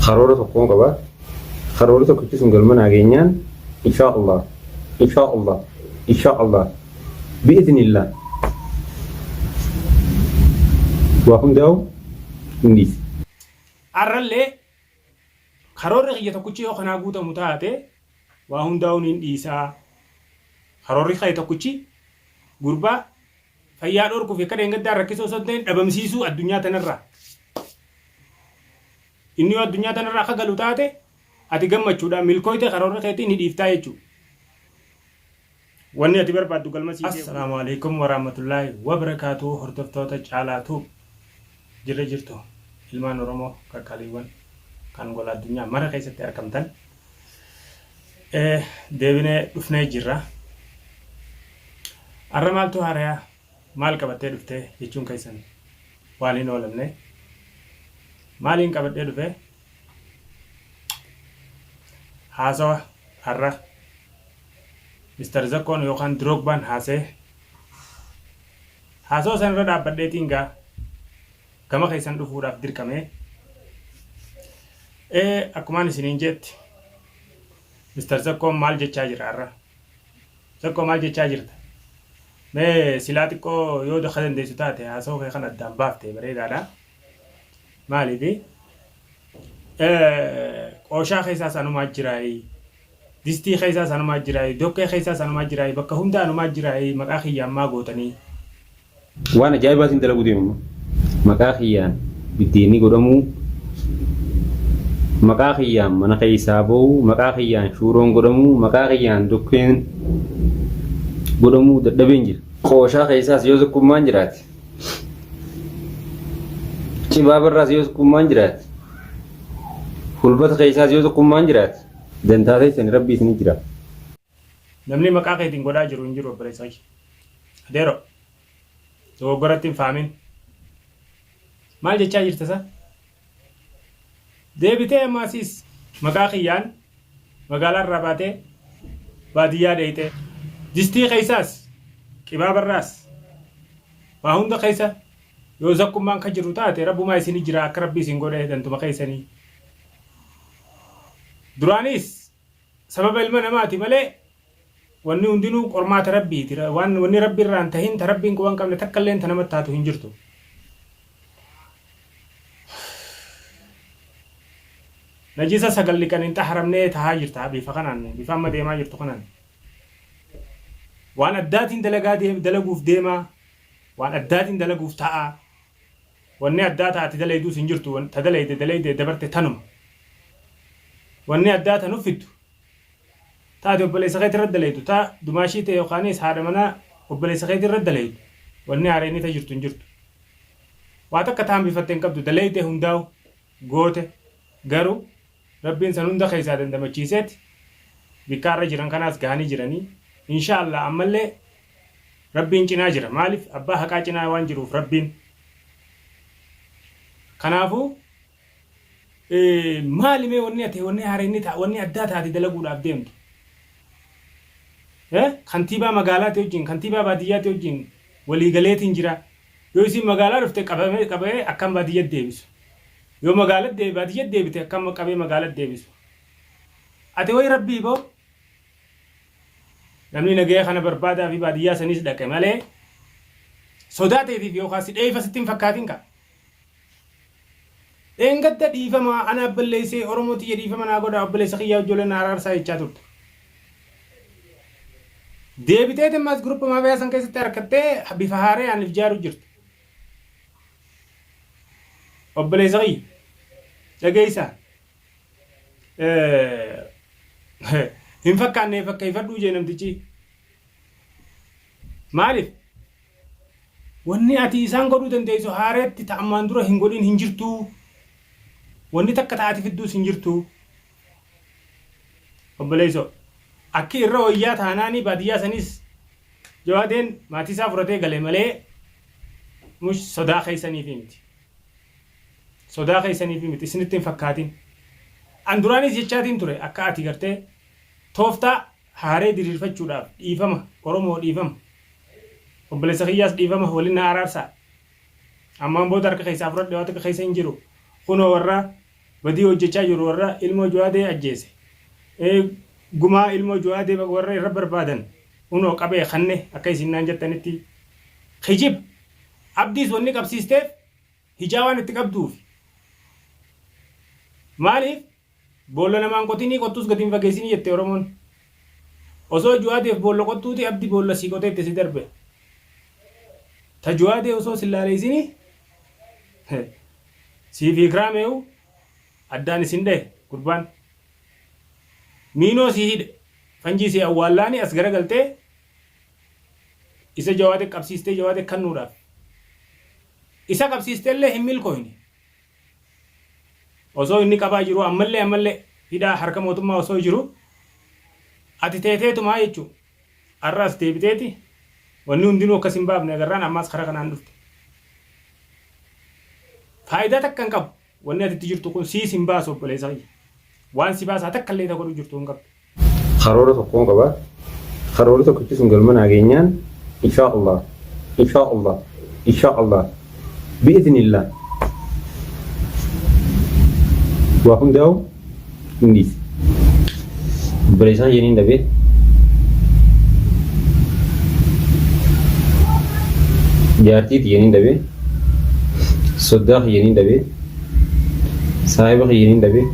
karoora tokkoon qaba. Karoorri tokkichi sun galma nageenyaan inshaa Allah inshaa Allah inshaa Allah bi'iznillah waa hundaa'u hin dhiisu. Har'allee karoorri kiyya tokkichi yoo kanaa guutamu taate waa hundaa'uun hin dhiisaa. Karoorri kee tokkichi gurbaa Fayyaa dhorkuu fi akka dheengaddaa rakkisoo osoo hin ta'in dhabamsiisuu addunyaa tanarraa. Inni yoo addunyaa tanarraa akka galu taate ati gammachuudhaan milkooyte karoorri keetii ni dhiiftaa jechuudha. Wanni ati barbaaddu galma sii geessu. Assalaamu alaikum warahmatullaahi wabarakaatuhu hordoftoota Caalaa Tuub jirra jirtu ilmaan Oromoo qaqqaliiwwan kan gola addunyaa mara keessatti argamtan deebinee dhufnee jirra. Har'a maaltu haarayaa maal qabattee dhuftee jechuun keessan waan hin oolamne. Maaliin qabadhee dhufe? Haasawa har'a Mr. Zakkoon yookaan Diroogbaan haasee haasawa sanarra dhaabbadheetiin gaa gama keessan dhufuudhaaf dirqame. Ee akkumaan isiniin jeetti Mr. Zakkoon maal jechaa jira har'a? Zakkoo maal jechaa jirta? Mee silaa xiqqoo yoo daka dandeessu taate haasoo kee kan addaan baafte bareedaadha. Maaliifi? Qooshaa keessaas anumaa jiraayii Distii keessaas anumaa jiraayi doqqee keessaas anumaa jiraayi bakka hunda anumaa jiraayi maqaa kiyyaan maa gootanii. Waan ajaa'ibaa siin dalaguu deema amma. Maqaa kiyyaan biddeenni godhamuu, maqaa kiyyaan mana keessaa ba'u, maqaa kiyyaan shuuroon godhamuu, maqaa kiyyaan doqqeen godhamuu dadhabeen jira. Qooshaa keessaas yoo sukkummaan jiraate, cibaabarraas yoo sukkummaan jiraate, hulbata keessaas yoo sukkummaan jiraate, Dantaa keessani rabbi isini jira. Namnii maqaa keetiin godhaa jiru hin jiru obboleessa kiyya. Adeero. Dogoggoratti hin faamin. Maal jechaa jirta sa? Deebitee amma asiis maqaa kiyyaan magaalaa irraa baatee baadiyyaa deeyxee distii keessaas qibaaba irraas waa hunda keessa yoo zakkummaan ka jiru taate rabbumaa isini jira akka rabbi isin godhe dantuma keessanii. Duraanis sababa ilma namaati malee wanni hundinuu qormaata Rabbiiti. Waan wanni Rabbi irraa hin tahin ta Rabbiin quba hin qabne takka illeen ta namatti taatu hin jirtu. Najisa sagal dhiqan hin xaharamnee tahaa jirta bifa kanaan bifa amma deemaa jirtu kanaan. Waan addaatiin dalagaa dalaguuf deemaa waan addaatiin dalaguuf ta'aa. Wanni addaa ta ati dalayduus hin jirtu ta dalayde dalayde dabarte tanuma. Wanni addaa ta nuf fiddu ta ati obboleessa keeti irra dalaydu ta dumaashii tee yokaaniis haadha manaa obboleessa keeti irra dalaydu wanni haareyni ta jirtu hin jirtu. Waa takka ta hambifatte hin qabdu dalayde hundaawu goote garuu Rabbiin san hunda keessaa dandamachiiseet bikkaa irra jiran kanaas gahanii jiranii. Inshaa Allah ammallee Rabbiin cinaa jira. Maaliif abbaa haqaa cinaa waan jiruuf Rabbiin. Kanaafuu maali mee wanni ati wanni haareenni ta'a wanni addaa taate dalaguudhaaf deemtu? Kantiibaa magaalaati wajjin kantiibaa baadiyyaati wajjin walii galeetiin jira. Yoo isiin magaalaa dhufte qabamee qabamee akkaan baadiyyatti deebisu. Yoo magaalat deebi baadiyyat deebite akka amma qabee magaalat deebisu ati wayi rabbii boo namni nagaya kana barbaadaa fi baadiyyaa saniis dhaqe malee sodaa teetiif yookaan si dheeyfa sitti hin fakkaatin kaa dheengadda dhiifama anaaf balleessee oromoo tiyya dhiifama naa godha obboleessa kiyyaa ijoollee na araarsaa jechaa turte deebitee temmaas guruppa maafiyaa san keessatti harkattee bifa haarayaan if jaaru jirti Obboleessa kiyya dhageessa hin fakkaanne fakkeeffadhuu jee namtichi maaliif wanni ati isaan godhuu dandeessu haareetti ta'ammaan dura hin godhin hin jirtuu wanni takka ta'ati fidduus hin jirtuu Obboleeysoo. Akki irra woyyaa taanaani baadiyyaa saniis Jawaadeen maatii isaa furatee gale malee mush sodaa keeysaniifii miti. Sodaa keeysaniifii miti isinitti hin fakkaatin. An duraaniis jechaatiin ture akka ati gartee tooftaa haaree diriirfachuudhaaf dhiifama Oromoo dhiifama obboleessa kiyyaas dhiifama walin na araarsaa. Ammaan booda harka keeysaa furadhe waa takka keeysa hin jiru. Kunoo warra Badii hojjachaa jiru warra ilmoo juwaadee ajjeese ee gumaa ilmoo juwaadee baga warra irra barbaadan kunoo qabee kanne akka isin naan jattanitti kijib abdiis wanni qabsiisteef hijaa waan itti qabduufi maaliif boolla namaan qotinii qottuus gadi hin fageessinii jette oromoon osoo juwaadeef boolla qottuuti abdi boolla sii qotee itti si darbe ta juwaadee osoo sin laaleessinii Siifi ikraameyu addaan isin dhahe gurbaan miinoo si hidhe fanjii si awwaallaani as garagaltee isa jawaade qabsiistee jawaade kannuudhaaf isa qabsiistellee hin milkooyne osoo inni qabaa jiruu ammallee ammallee hidhaa harka mootummaa osoo jiruu ati teeteetumaa jechuu Arra as deebiteeti wanni hundinuu akka si hin baafne agarraan ammaas karaa kanaan dhufte. Faayidaa takka hin qabu. Wanni ati itti jirtu kun siis hin baasu obboleessa kiyya. Waan si baasaa takka illee ta godhu jirtu hin qabdu. Karoora tokkoon qaba. Karoorri tokkichi sun galma naa geenyaan inshaa Allah, inshaa Allah, inshaa Allah bi'iznillah waa hundaa'u hin dhiisu. Obboleessaan jeniin dhabee jaartii tiyyaniin dhabee soddaa kiyyaniin dhabee saahiba kiyyaniin dhabee.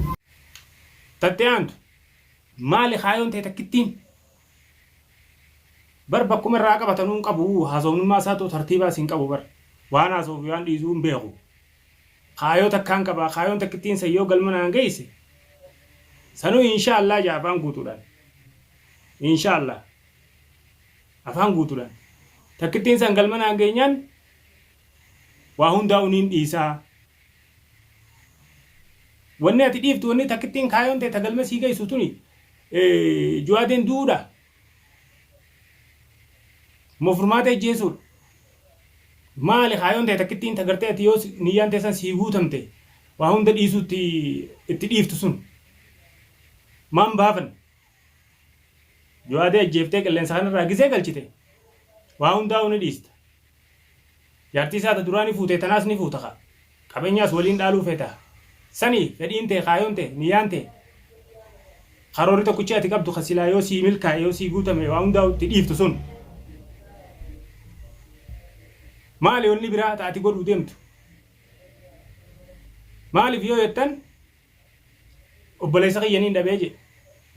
Tattee aantu maali kaayoon ta'e takkittiin Bar bakkuma irraa qabatanuu hin qabu haasofnummaa isaatu tartiibaas hin qabu bar. Waan haasa'uu fi waan dhiisuu hin beeku. Kaayoo takkaan qaba kaayoon takkittiin san yoo galma naan geesse sanuu inshaa Allah ja'a afaan guutuudhaan. Inshaa Allah afaan guutuudhaan. Takkittiin san galma naan geenyaan waa hundaa'u niin dhiisa. Wanni ati dhiiftu wanni takkittiin kaayoon tee ta galma sii geessu tuni Juwaadiin du'uudhaa? Moo furmaata ijjeesuudha? Maali kaayoon tee takkittiin ta gartee ati yoo niyyaan teessan sii guutamte waa hunda dhiisuutti itti dhiiftu sun? Maa hin baafanne? Juwaadii ajjeeftee qilleensa kanarraa gisee galchite waa hundaa'uu ni dhiista. Jaartii isaa ta duraani fuute tanaas ni fuuta kaa. Qabeenyaas waliin dhaaluu feeta. Sani fedhiin tee, kaayoon tee, niyyaan tee, karoorri tokkichi ati qabdu ka silaa yoo sii milkaa'e, yoo sii guutame waa hundaa'uu itti dhiiftu sun. Maali wanni biraa ta ati godhuu deemtu? Maaliif yoo jettan obboleessa kiyya niin dhabee jee,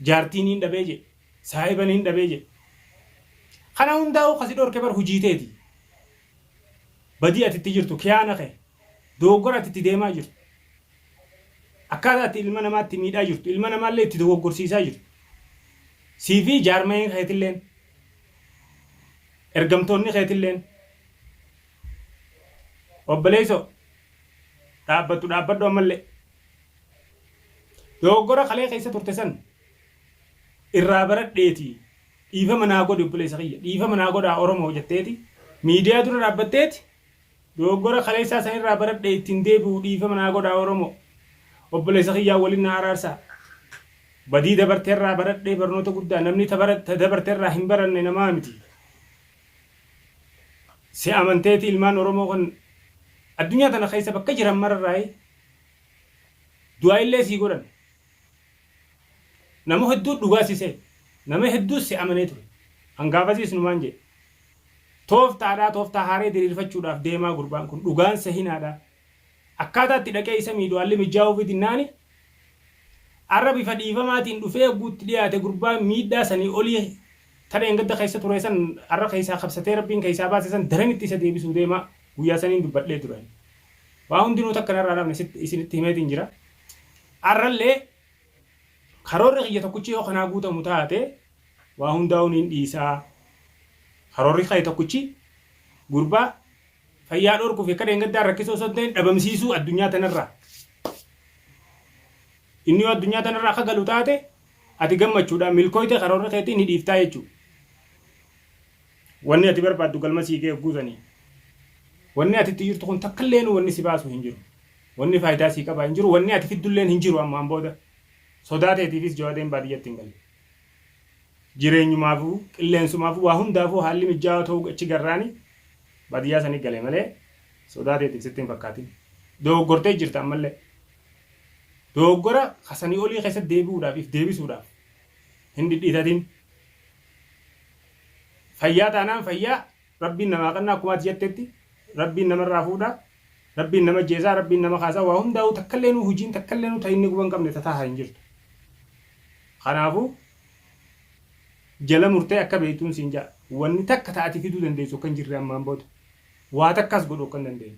jaartii niin dhabee jee, Saahiba niin dhabee jedhe. Kana hundaahuu ka si dhorke bar hujii teeti. Badii ati itti jirtu, kiyaana kee, dogoggora ati itti deemaa jirtu, akkaataa ati ilma namaa itti miidhaa jirtu, ilma namaa illee itti dogoggorsiisaa jirtu, sii fi jaarmayeen keeti illeen, ergamtoonni keeti illeen. Obboleessoo, dhaabbattu dhaabbadhu amma illee. Dogoggora kalee keessa turte san. irraa baradheeti dhiifama naa godhi obboleessa kiyya dhiifama naa godhaa Oromoo jetteeti miidiyaa dura dhaabbatteeti dogoggora kaleessaa san irraa baradhee ittiin deebi'u dhiifama naa godhaa Oromoo obboleessa kiyyaa waliin naa araarsaa badii dabarte irraa baradhee barnoota guddaa namni ta bara- ta dabarte irraa hin baranne namaa miti si amanteeti ilmaan Oromoo kan addunyaa tana keessa bakka jiran mararraayi du'aa illee sii godhan Nama hedduu dhugaa si se'e. Nama hedduus si amanee ture. An gaafasiis numaan jedhe. Tooftaadhaa tooftaa haaree diriirfachuudhaaf deemaa gurbaan kun. Dhugaan sehinaadhaa. Akkaataa itti dhaqee isa miidhu haalli mijjaawuufi dinnaani arra bifa dhiifamaatiin dhufee yogguu itti dhiyaate gurbaan miidhaa sanii olii ta dheengadda keessa ture san arra keessaa kabsatee Rabbiin keessaa baase san daran itti isa deebisuu deemaa. Guyyaa saniin dubbadhee ture ani. Waa hundinuu takka narraa hin hafne sitti isinitti himeetiin jira. Har'allee karoorri kiyya tokkichi yoo kanaa guutamu taate waa hundaa'uu niin dhiisa. Karoorri kee tokkichi gurbaa fayyaa dhorkuu fi akka dheengaddaa rakkisuu osoo hin ta'in dhabamsiisuu addunyaa tanarraa. Inni yoo addunyaa tanarraa akka galu taate ati gammachuudhaan milkooyte karoorri keetii ni dhiiftaa jechuudha. Wanni ati barbaaddu galma sii gaya hogguu sanii. Wanni ati itti jirtu kun takkalleenu wanni si baasu hin jiru. Wanni faayidaa sii qaba hin jiru, wanni ati fiddulleen hin jiru ammaan booda. Sodaa teetiifis Jawaadeen baadiyyatti hin galle. Jireenyumaafuu, qilleensumaafuu, waa hundaafuu haalli mijjaawaa ta'uu achi garraani baadiyyaa sanii gale malee sodaa teetiif sitti hin fakkaatin. Dogoggortee jirta ammallee. Dogoggora ka sanii olii keessatti deebi'uudhaaf, if deebisuudhaaf hin dhidhiitatin. Fayyaa taanaan fayyaa rabbiin namaa qannaa akkuma ati jettetti rabbiin namarraa fuudha rabbiin nama ajjeesaa rabbiin nama kaasaa waa hundaa'uu takkalleenuu hujiin takkalleenuu ta inni guban qabne ta taaha hin jirtu kanaafu jala murtee akka beeytuun siin ja'a wanni takka ta ati fiduu dandeessu akka hin jirre ammaan booda waa takkaas godhu akka hin dandeenye.